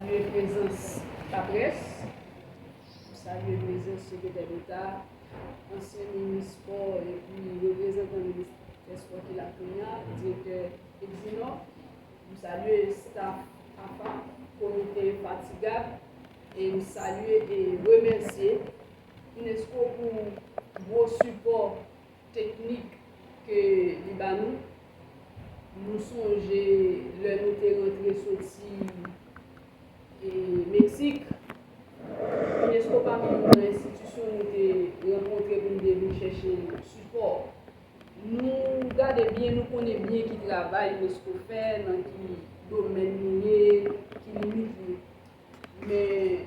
Salye prezans laprès, nou salye prezans sekretè deta, ansyen minis espò epi reprezantan ministè espò ki la kounya, direktè Exinò, m salye staff apa, komite enfatigab e m salye e remèsye unesco pou gwo sipò. Teknik ke li ba nou, nou sonje lè nou te rantre soti Meksik, Unesco pa menm nan enstitisyon nou te rankontre pou nou te vin chèche sipò. Nou gade byen, nou konnen byen ki travay Unesco fè, nan ki domèn nou ye, ki limit li. Men,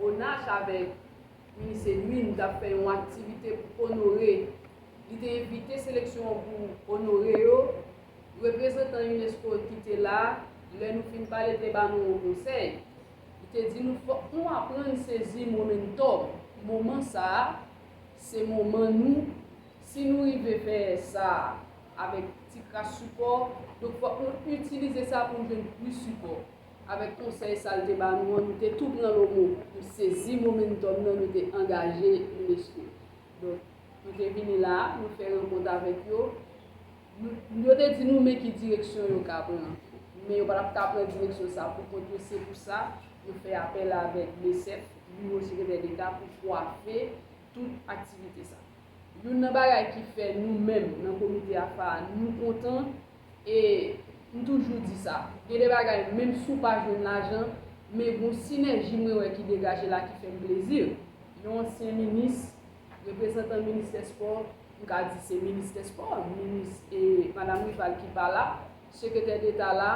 ONACH avèk Ui se ui m tap fè yon aktivite pou onore li te envite seleksyon an pou onore yo reprezantan unesco ki te la lè nou fin pale te ba nou yon konsèy li te di nou fòk nou aprann sezi momentum moman sa a se moman nou si nou rive fè sa a avèk ti kras sipò donk fòk nou itilize sa pou nou jwenn plis sipò. Avèk konsèy sa l te ba nou an, nou te tou pran lomo pou sezi momentòm nan, nou te angaje unesco. Donk, nou te vini la a, nou fè rankont avèk yo. Nou, yo te di nou men ki direksyon yo ka pran. Men yo pa t ap ka pran direksyon sa a poukont yo. Se pou sa, yo fè apèl avèk BSEP, Biwo Sekretè Deta, pou kwafe tout aktivite sa a. Youn nan bagay ki fè nou menm nan komite AFA a, nou kontan, E m toujou di sa, gen de bagay menm si w pa jwenn lajan, men gon sinèji mwen wè ki degaje la ki fè m plezi. Yon ansyen minis, reprezantan ministè spò, m ka di se ministè spò, minis e madam Rival ki pa la, sekretè deta la,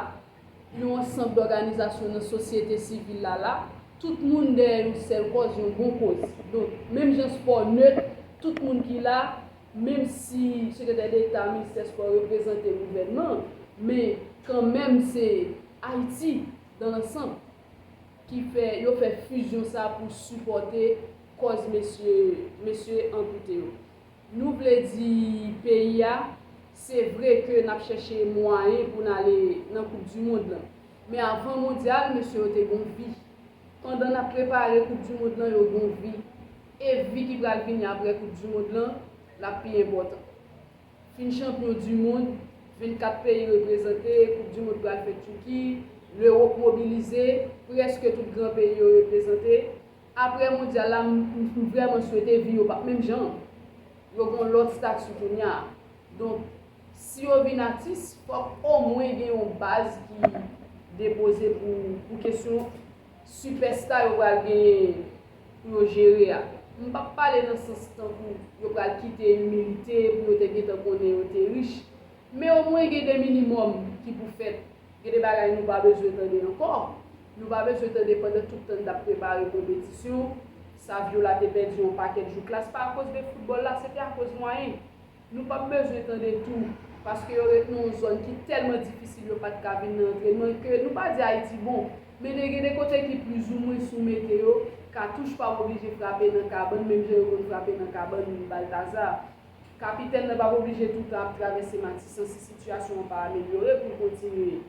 yon ansanb dòganizasyon nan sosyete sivil la la, tout moun dèyè yon sèl kòz, yon bon koz. Donk, menm jan spò nèt, tout moun ki la, menm si sekretè deta ministè spò reprezante gouvènman men kan menm se Ayiti dan lansanb ki fè yo fè fizyon sa pou sipòte kòz mesye mesye ankoute yo nou vle di peyi a se vre ke nap chèche mwayen pou n ale nan koup di mond lan men avan mondyal mesye yo te gon vi pandan nap prepare koup di mond lan yo gon vi E vi ki pral vini aprè koup du mond lan lap pi enpòtan. Fin chanpyon du mond, 24 peyi reprezante, koup du mond pral fèt Turki, L'Europe mobilize, prèske tout gran peyi yo reprezante. Aprè mondyal la m vrèman swete vi yo pap menm jan. Yo gon lòt stati kounya. Donk si yo vin atis fòk omwen gen yon baz ki depoze pou kesyon Sipèsta yo pral genyen pou yo jere a. M pap pale nan sans tankou yo pral kite imilite pou yo te gentan konnen yo te rich. Men omwen gen de minimòm ki pou fèt. Gen de bagay nou pa bezwen tande ankò. Nou pa bezwen tande pandan tout tan n t ap prepare konpetisyon, Saviola te pèdi yon pakèt jou klas pa akoz de foutbòl la, se te akoz mwayen. Nou pap bezwen tande tou, paske yo ret nan yon zòn ki tèlman difisil yo pat ka vin nan antrenman ke nou pa di Ayiti bon, men de gen de kote ki plizoumwen sou meteyo, katouch pa oblije frape nan kabann menm jan yo konn frape nan kabann Baltazar. Kapitèn nan pap oblije tou tan ap travèse Matisan si sitiyasyon an pa amelyore pou l kontinye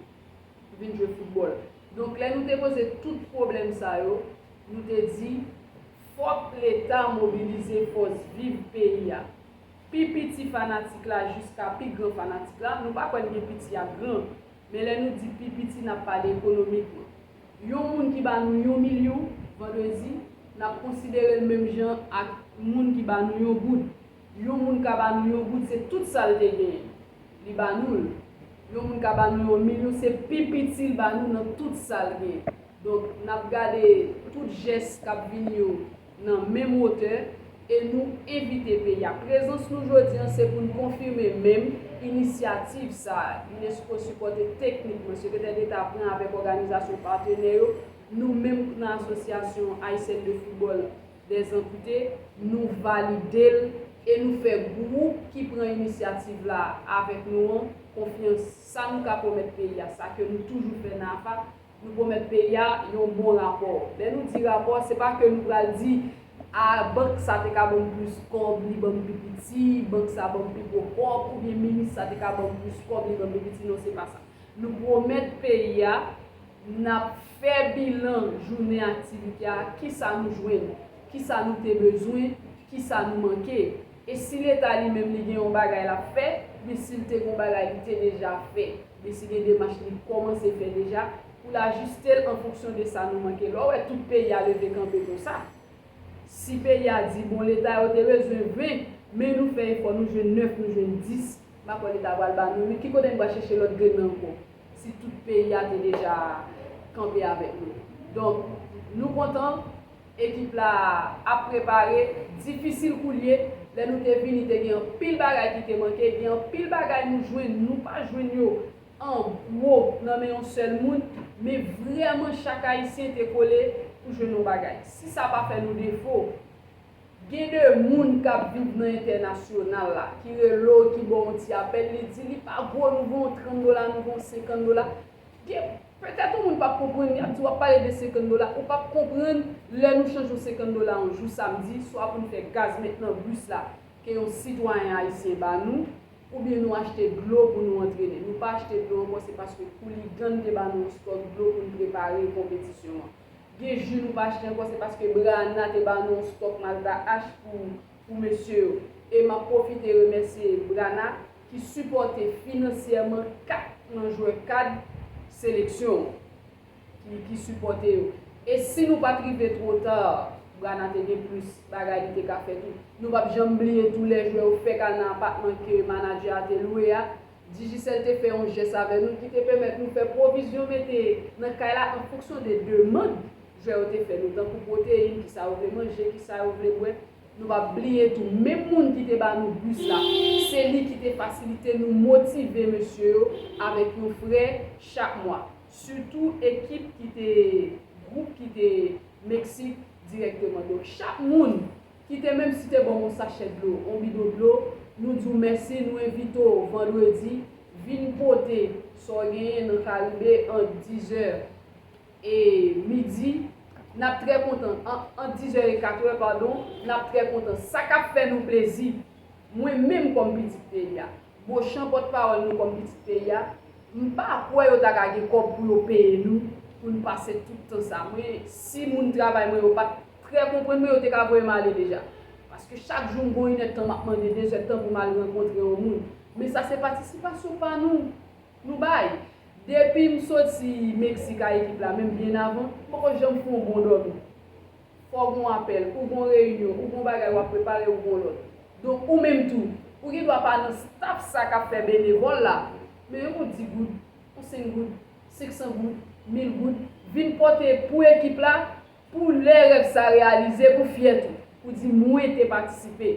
vin jwe foutbòl. Donk lè nou te poze tout pwoblèm sa yo, nou te di fòk leta mobilize fòs viv peyi a. Pi piti fanatik la jiska pi gran fanatik la, nou pa kwè n gen piti ak gran, men lè nou di pi piti n ap pale ekonomikman. Yon moun ki ba nou yon milyou, vandredi, n ap konsidere l menm jan ak moun ki ba nou yon goud. Yon moun ka ba nou yon goud se tout sa l te genyen li ba nou l. Yon moun ka ba nou yon milyon se pi piti l ba nou nan tout sa l gen. Donk, n ap gade tout jès k ap vini yo. nan menm wotè e nou envite peyi a. Prezans nou jodi an se pou n konfime menm inisyativ sa a unesco sipòte teknikman Sekretè Deta pran avèk òganizasyon patenè yo, nou menm k nan Asosyasyon Ayisèn de Foutbòl dè Zanpite nou valide l, e nou fè gwoup ki pran inisyativ la avèk nou an konfyans sa nou ka pwomèt peyi a sa ke nou toujou fè nan AFA, Nou pwomèt peyi a yon bon rapò. Lè nou di rapò, se pa ke nou pral di, A, bank sa te ka ban m plis kòb, li ban m pi piti, bank sa ban m pi gwo kòb, oubyen minis sa te ka ban m plis kòb, li ban m pi piti. Non, se pa sa. Nou pwomèt peyi a, n ap fè bilan jounen aktivite a, kisa nou jwenn, kisa nou te bezwen, kisa nou manke. E si leta li menm li gen yon bagay lap fè, byen si l te gon bagay li te deja fè, byen si gen demach li kòmanse fè deja, pou l ajiste l an fonksyon de sa nou manke. Lè w wè tout peyi a leve kanpe konsa, si peyi a di bon leta yo te bezwen 20, men nou fè efò nou jwenn 9, nou jwenn 10, m pa kwè leta pral ba nou 8, ki kote n pral chèche lòt grenn nan ankò, si tout peyi a te deja kanpe avèk nou. Donk, nou kontan Ekip la ap prepare, difisil koulye, lè nou te vini te gen anpil bagay ki te manke, gen anpil bagay nou jwenn, nou pa jwenn yo an gwo nan men yon sèl moun, men vrèman chak Ayisyen te kole pou jwenn yon bagay. Si sa pa fè nou defo, gen de moun k ap viv nan entènasyonal la, ki rele w, ki ba w yon ti apèl, li di li pa gwo nouvo, yon 30 dola nouvo, yon 50 dola, gen. Petèt yon moun pap konprann, yap di wap pale de 50 dola, ou pap konprann lè nou chanje yon 50 dola yon jou samdi swa pou n fè gaz met nan bus la ke yon sitwayen ayisyen ba nou, oubyen nou achte dlo pou nou antrene. Nou pa achte dlo ankò se paske Hooligan te ba nou yon stòk dlo pou n prepare konpetisyon an. Gen ju nou pa achte ankò se paske Brana te ba nou yon stòk Malta Ash pou pou mesye yo. E map pwofite remèsye Brana. ki sipòte finansyèman 4 nan jwè kad seleksyon an ki ki sipòte yo e si nou pat rive two ta Brana te gen plis bagay li te ka fè tou nou pap janm bliye tou lè jwè yo fèk al nan apatman ke manadjè a te lwe a Digicel te fè yon jès avè nou ki te pèmèt nou fè pwovizyon mete nan kay la an fonksyon de demand jwè yo te fè nou tankou pwoteyin kisa yo vle manje kisa yo vle bwè Nou pap bliye tou menm moun ki te ba nou bus la se li ki te fasilite nou motive mesye yo avèk yon frè chak mwa sitou ekip ki te gwoup ki te Meksik dirèkteman donk chak moun ki te menm si te ban w yon sachè dlo yon bidon dlo nou di w mèsi nou envite w vandredi vin pote sa w genyen nan karibe ant dizè e midi, n ap trè kontan, ant dizè e katrè, padon, n ap trè kontan. Sa k ap fè nou plezi, mwen menm kòm pitit peyi a, Bochan, pòtpawòl nou kòm pitit peyi a, m pa kwè yo ta ka gen kòb pou yo peye nou pou n pase tout tan sa. Mwen, si moun travay mwen yo pa t trè konprann mwen, yo te ka voye m ale deja. Paske chak jou m gon inèdtan m ap mande dezèdtan pou m al rankontre yon moun. Men sa se patisipasyon pa nou Nou bay! Depim soti Mexique a ekip la menm byen avan, m poko janm fè yon bon dòmi. Fò w gon apèl, ou gon reyinyon, ou gon bagay wap prepare, ou gon lòt. Donk ou menm tou, ou gen dwa pa nan staf sa kap fè benevòl la, men yon bon 10 goud, yon 5 goud, 500 goud, 1000 goud, vin pòte pou ekip la, Pou lè rèv sa reyalize pou fyè tou. Pou di mwen te patisipe.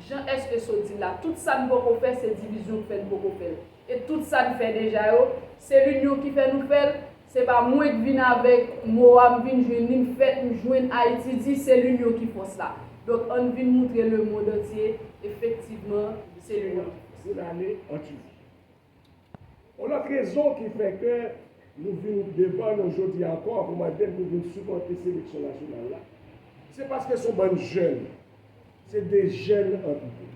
Jan SESO di l la, tout sa n poko fè se divizyon k fè n poko fè l. E tout sa n fè deja yo, se linyon ki fè nou fè l. Se pa mwen k vin avèk mo a, m vin jwenn li, m fèt, m jwenn Ayiti di, se linyon ki fòs la. Donk ann vin moutre lemond antye efektivman se linyon ki fòs la. Yon lòt rezon ki fè ke nou vin devan nou jodi a ankò pou mande pou vin sipòte seleksyon nasyonal la, se paske son bann jèn, se de jèn anpito.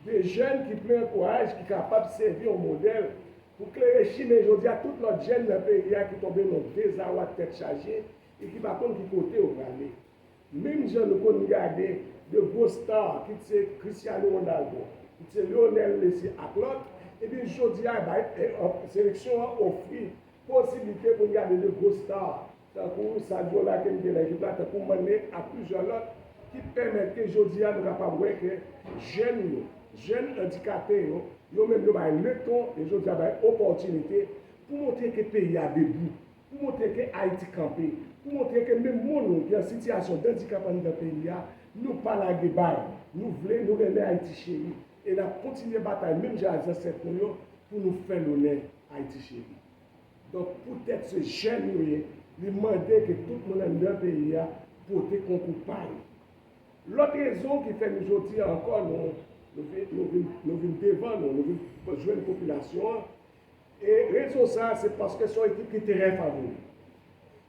De jèn ki plen kouraj, ki kapab sèvi yon modèl pou klere chimen jodi a tout lòt jèn nan peyi a ki tonbe nan yon dezawa tèt chaje e ki pa konn ki kote yo prale. Menm jan nou konn gade 2 gwo star kit se Cristiano Ronaldo, kit se Lionel Messi ak lòt, ebyen jodi a bay seleksyon an ofri posiblite pou n gade 2 gwo star tankou Sadio la ke n gen nan ekip la, tankou Mané ak plizyè lòt ki pèmèt ke jodi a nou kapab wè ke jèn yo, jèn andikape yo, yo menm yo bay leton, yo jodi a bay opòtinite pou montre ke peyi a debout. Pou montre ke Ayiti kanpe. Pou montre ke menm moun nou ki an sitiyasyon dendikap anndan peyi a, nou pa lage bay. Nou vle, nou renmen Ayiti cheri. E n ap kontinye batay menm jan ak zansèt nou yo pou nou fè lonè Ayiti cheri. Donk poutèt se jèn yo ye, li mande ke tout moun anndan peyi a pote konkou pa yo. Lòt rezon ki fè nou jodi a ankò nou vin devan nou, nou vin jwenn popilasyon an, E rezon sa a se paske se yon ekip ki trè favori.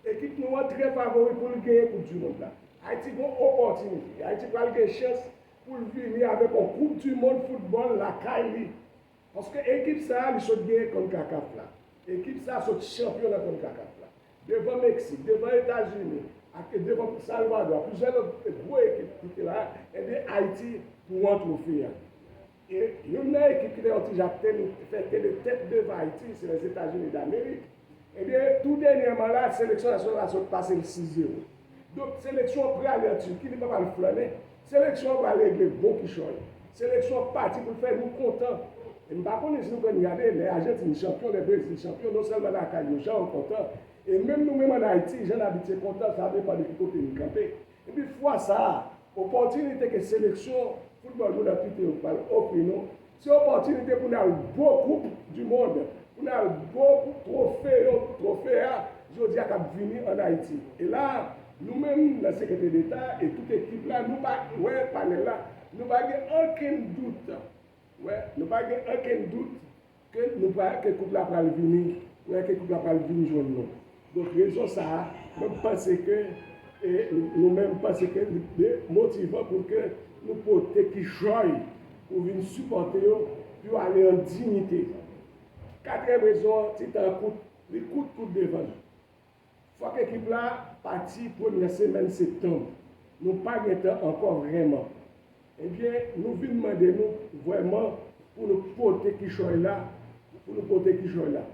Ekip nou an trè favori pou l genyen koup du mond la. Ayiti gen yon opòtinite. Ayiti pral gen chans pou l vini avèk yon koup du mond foutbòl lakay li. Paske ekip sa a li sot genyen Concacaf la. Ekip sa a sot chanpyon nan Concacaf la. Devan Meksik, devan Etazini ak devan Salvadò ak plizyè lòt gwo ekip ki te la, enben Ayiti pou an twofe a. E youn nan ekip ki te yon ti jan ap teni, fè teni tèt devan Ayiti, se Lèzetazini Damerik. Ebyen, tou dènyèman la, seleksyon nasyonal la sot pase l 6 zewo. Donk, seleksyon an prale an Tiki, li pap al flannen. Seleksyon an pral regle gwo kichòy. Seleksyon an pati pou l fè nou kontan. E m pa konnen si nou konn gade, lè Ajantin chanpyon, lè Brezil chanpyon, non sèlman lakay yo, jan yo kontan. E menm nou menm ann Ayiti, jan n abitye kontan, sa depan de ki kote n kanpe. Epi fwa sa a, opòtinite ke seleksyon foutbòl moun anpite yo pral ofri nou, se opòtinite pou n al bo koup di mond, pou n al bo twofe yo, twofe a jodi a k ap vini ann Ayiti. E la a, nou menm nan Sekreteri Deta e tout ekip la, nou pa wè panèl la, nou pa gen okenn dout, wè, nou pa gen okenn dout Ke nou pral, ke koup la pral vini pran, ke koup la pral vin jwenn nou. Donk rezon sa a, mwen m panse ke, e nou menm m panse ke li te motivan pou ke nou pote kichòy pou vin sipòte yo, pou yo ale an diyite. Katriyèm rezon an, ti tan an kout, li kout kout devan l. Fòk ekip la pati premyè semèn septanb. Nou pa gen tan ankò vrèman. Ebyen nou vin mande nou vrèman pou nou pote kichòy la, pou nou pote kichòy la.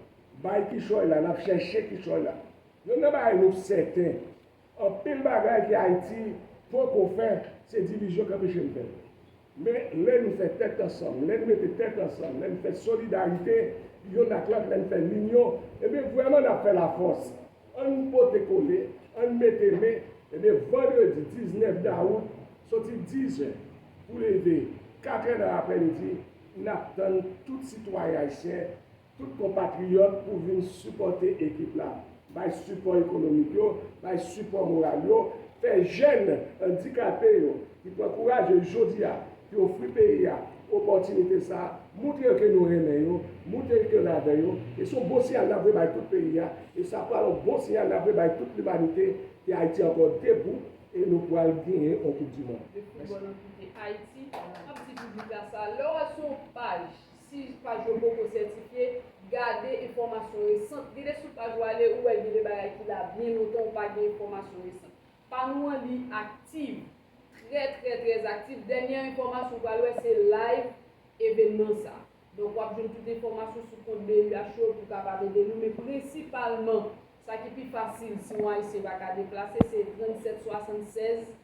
Bay kichòy la, n ap chèche kichòy la. Youn nan bagay nou sèten, anpil bagay ke Ayiti poko fè, se divizyon k anpeche n fè l. Men, lè nou fè tèt ansanm, lè n mete tèt ansanm, lè n fè solidarite yonn ak lòt, lè n fè linyon, enben, vrèman n ap fè lafòs. An n pote kole, an n mete men, enben, vandredi 19 dawout, soti dizè pou leve katrè nan aprèmidi, n ap tann tout sitwayen ayisyen, tout konpatriyòt pou vin sipòte ekip la, bay sipò ekonomik yo, bay sipò moral yo, fè jèn andikape yo ki pran kouraj yo jodi a, ki ofri peyi a opòtinite sa a, moutre yo ke nou renmen yo, moutre yo ke n avè yo, e se yon bon siyal n ap voye bay tout peyi a, e sa pral yon bon siyal n ap voye bay tout limanite ke Ayiti ankò debou e nou pral genyen yon koupdimond. Mèsi. Si paj yo poko sètifye, gade enfòmasyon resant. Vire sou paj ou ale, ou wè gen de bagay ki la byen lontan ou pa gen enfòmasyon resant. Pa nou an li aktiv, trè trè trè aktiv. Dènyè enfòmasyon ou pral wè se live evènman sa. Donk wap jwenn tout enfòmasyon sou kont BUH yo pou kapab ede nou. Men prensipalman, sa ki pi fasil si yon Ayisyen pa ka deplase se 3776.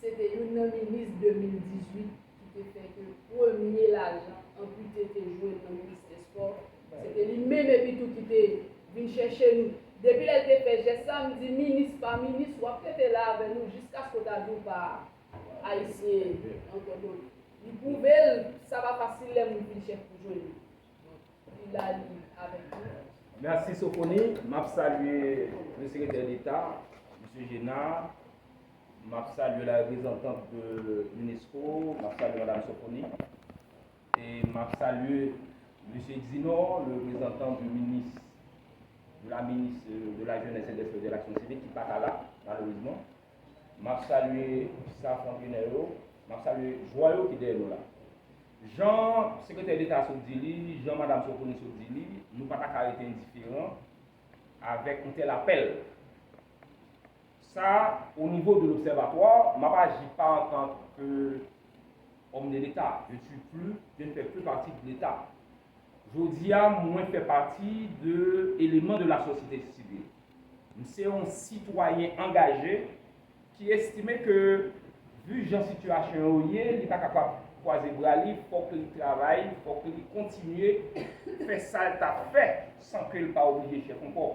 Se te youn nan minis 2018 ki te fè ke premye lajan anpite te jwenn nan ministè spò. Se te li menm epitou ki te vin chèche nou. Depi lè l te fè jès sa, m di minis pa minis, w ap rete la avè nou jiskaske w ta di w pa Ayisyen ankò. Donk, li pwouve l sa pa fasil lè moun fin chèf pou jwenn li. Merci Sophonie, map salye le Secretaire d'Etat, Monsieur Génard, map salye la reprezantant de l'UNESCO, map salye Madame Sophonie, e map salye Monsieur Exinor, le reprezantant du ministre, de la ministre de la Jeunesse et des Sports et de l'Action Civique ki paka la, malerezman. Map salye staff antrenè yo, map salye jwè yo ki dèyè nou la. Jan sekretè deta sot di li, jan madam Sofoni sot di li, nou pa ta ka rete endiferan avèk yon tèl apèl. Sa o nivo de lobsèvatwa, map aji pa antanke òm de leta, je suis plus, je ne fais plus partie de l'Etat. Jodi a mwen fè pati de eleman de la sosyete sivil. M se yon sitwayen angaje ki estime ke vu jan sitiyasyon yo ye li pa kapab kwaze bra li fòk li travay, fòk li kontinye fè sa l t ap fè san ke l pa oblije chèf ankò.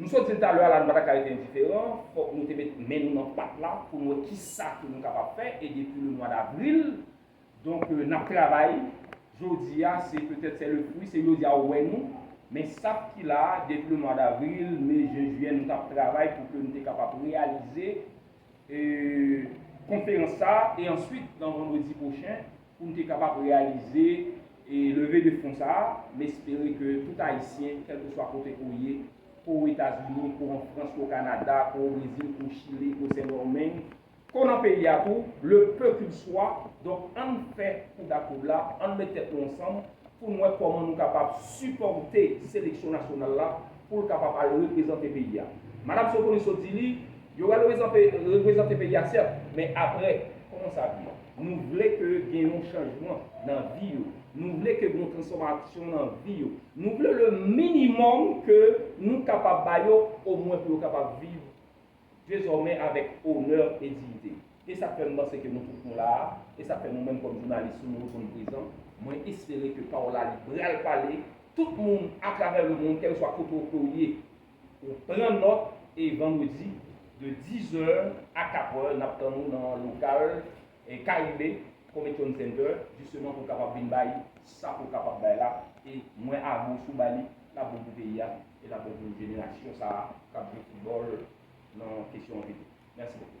Nou sot di l talè a la nou pa ta ka rete endiferan, fòk nou te met men nou nan pat la pou n wè kisa ke nou kapab fè e depi le mwa davril donk n ap travay jodi a se petèt sè le fwi se jodi a ou wè nou men sa p ki la depi le mwa davril, me, jen, jiyè nou t ap travay pou ke nou te kapab reyalize. konferans sa a e answit nan vandredi pwochen pou n te kapab reyalize leve de fon sa a. M espere ke tout Ayisyen, kèlkeswa kote ke w ye, ke w Etazini, ke w an Frans, ke w Kanada, ke w o Brezil, ke w Chile, ke w Sendomeng, ke w nan peyi a tou, le peu qu'il soit, donk ann fè kou dakoub la, ann met tèt nou ansanm pou n wè kòman nou kapab sipòte seleksyon nasyonal la pou l kapab al reprezante peyi a. Madam Sokoniso di li, Yo pral reprezante peyi a sèt, men aprè, kòman sa ap ye? Nou vle ke gen yon chanjman nan vi yo. Nou vle ke gen yon transfòmasyon nan vi yo. Nou vle le minimòm ke nou kapab ba yo, omwen pou yo kapab viv dezòmè avèk onè e diyite. E sa k fè m panse ke nou tout nou la a, e sa k fè nou menm kòm jounalis tou nou reponn prezan, mwen espere ke pawòl la li pral pale tout moun atravè lemonn kèleswa kote ou ke ou ye. Ou pran nòt e vandredi de 10 zè a 4 è n ap tann ou nan lokal Caribe Convention Center jisteman pou w kapab vin bay sa ke w kapab bay la e mwen a gwoch ou ba li l ap bon pou peyi a. e nap bon pou jenerasyon sa a kap jwe football nan kesyon an pito. Merci beaucoup.